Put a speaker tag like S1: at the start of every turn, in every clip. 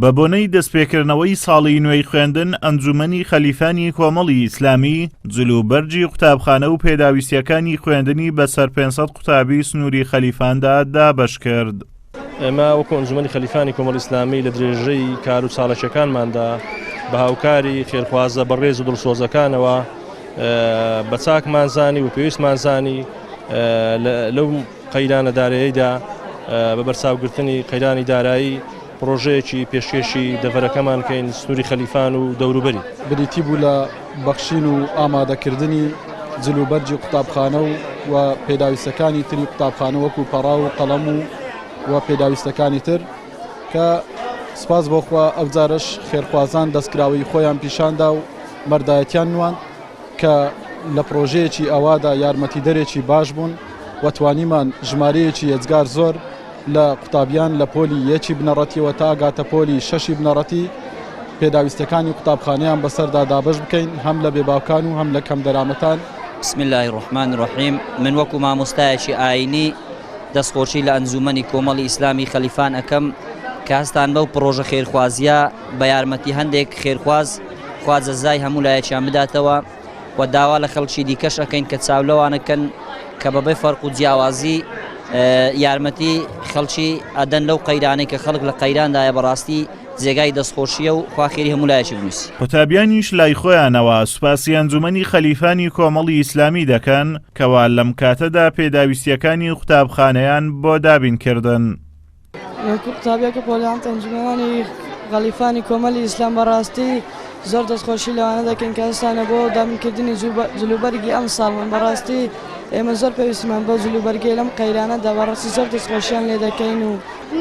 S1: بەبۆنەی دەستپێکردنەوەی ساڵی نوێی خوێندن، ئەنجوومەنی خەلیفانی کۆمەڵی ئیسلامی، جلوبەرگی قوتابخانە و پێداویستییەکانی خوێندنی بەسەر پێنج سەد قوتابیی سنووری خەلیفاندا دابەش کرد. ئێمە وەکوو
S2: ئەنجوومەنی خەلیفانی کۆمەڵی ئیسلامی لە درێژەی کار و چاڵەکییەکانماندا بە هاوکاری خێرخوازە بەڕێز و دڵسۆزەکانەوە بە چاکمان زانی و پێویستمان زانی لەو قەیرانە دارەیەیدا بە بەرچاوگرتنی قەیرانی دارایی پڕۆژەیەکی پێشکێشی دەڤەرەکەمان کەین سنووری خەلیفان و دەوروبەری. بریتی بوو لە
S3: بەخشین و ئامادەکردنی جل و بەرگی قوتابخانە و و پێداویستەکانی تری قوتابخانە وەکوو پەڕاو و قەڵەم و و پێداویستەکانی تر کە سپاس بۆ خوا ئەوجارەش خێرخوازان دەستکراوەیی خۆیان پیشان دا و مەردایەتیان نواند. کە لە پڕۆژەیەکی ئاوادا یارمەتیدەرێکی باش بوون و توانیمان ژمارەیەکی یەجگار زۆر لە قوتابیان لە پۆلی یەکی بنەڕەتیەوە تا گاتە پۆلی شەشی بنەڕەتی پێداویستەکانی قوتابخانەیان بەسەردا دابەش بکەین هەم لە بێباوکان و هەم لە کەم دەرامەتان بسم اللە الرحمن
S4: الرحیم من وەکو مامۆستایەکی ئاینی دەست خۆشی لە ئەنجومەنی کۆمەڵی ئیسلامی خەلیفان ئەکەم کە هەستان بەو پڕۆژە خێرخوازیە بە یارمەتی هەندێک خێرخواز خوا جەزای هەموو لایەکیان بداتەوە و داوا لە خەڵکی دیکەش ئەکەین کە چاو لەوانە کەن کە بەبێ فەرق و جیاوازی یارمەتی خەڵکی ئەدەن لەو قەیرانەی کە خەڵک لە قەیراندایە بەڕاستی جێگای دەستخۆشیە و خوا خێری هەموو لایەکی بنووسی. قوتابیانیش لای
S1: خۆیانەوە سوپاسی ئەنجومەنی خەلیفانی کۆمەڵی ئیسلامی دەکەن کەوا لەم کاتەدا پێداویستیەکانی قوتابخانەیان بۆ دابین کردن.
S5: قوتابیە کە پۆلیانت ئەنجومەوانی غەلیفانی کۆمەلی ئیسلام بەڕاستی زۆر دەستخۆشی لەوانە دەکەین کە هەستانە بۆ دابنکردنی جلوبەرگی ئەم ساڵ من بەڕاستی ئێمە زۆر پێویستمان بۆ جلوبەرگی لەم قەیرانە دابڕاستی زۆر دەستخۆشیان لێ دەکەین و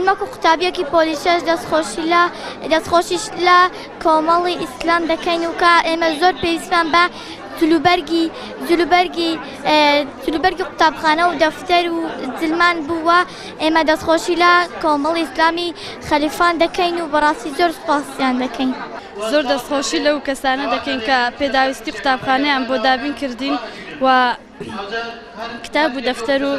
S5: مەکو قوتابیەکی
S6: پۆلیسەش دەستخۆشی لە دەستخۆشیش لە کۆمەڵی ئیسلام دەکەین و کە ئێمە زۆر پێویستمان بە جلوبەرگی جلوبەرگی جلوبەرگی قوتابخانە و دەفتەر و زلمان بووە ئێمە دەستخۆشی لە کۆمەڵی ئیسلامی خەلیفان دەکەین و بەڕاستی زۆر سوپاسیان دەکەین. زۆر دەستخۆشی
S7: لەو کەسانە دەکەین کە پێداویستی قوتابخانەیان بۆ دابین کردین و کتاب و دەفتەر و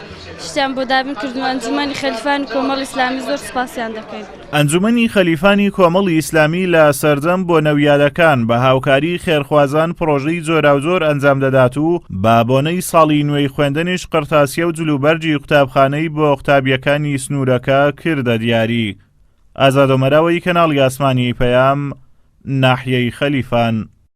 S7: شتیان بۆ دابین کردن و ئەنجومەنی خەلیفان و کۆمەڵی ئیسلامی زۆر سوپاسیان دەکەین. ئەنجومەنی خەلیفانی
S1: کۆمەڵی ئیسلامی لە سەردەم بۆنەویادەکان بە هاوکاری خێرخوازان پڕۆژەی جۆراوجۆر ئەنجام دەدات و بە بۆنەی ساڵی نوێی خوێندنیش قڕتاسیە و جلوبەرگی قوتابخانەی بۆ قوتابیەکانی سنورەکە کردە دیاری ئازادۆمەراوەی کەناڵی ئاسمانی پەیام ناحیەی خەلیفان.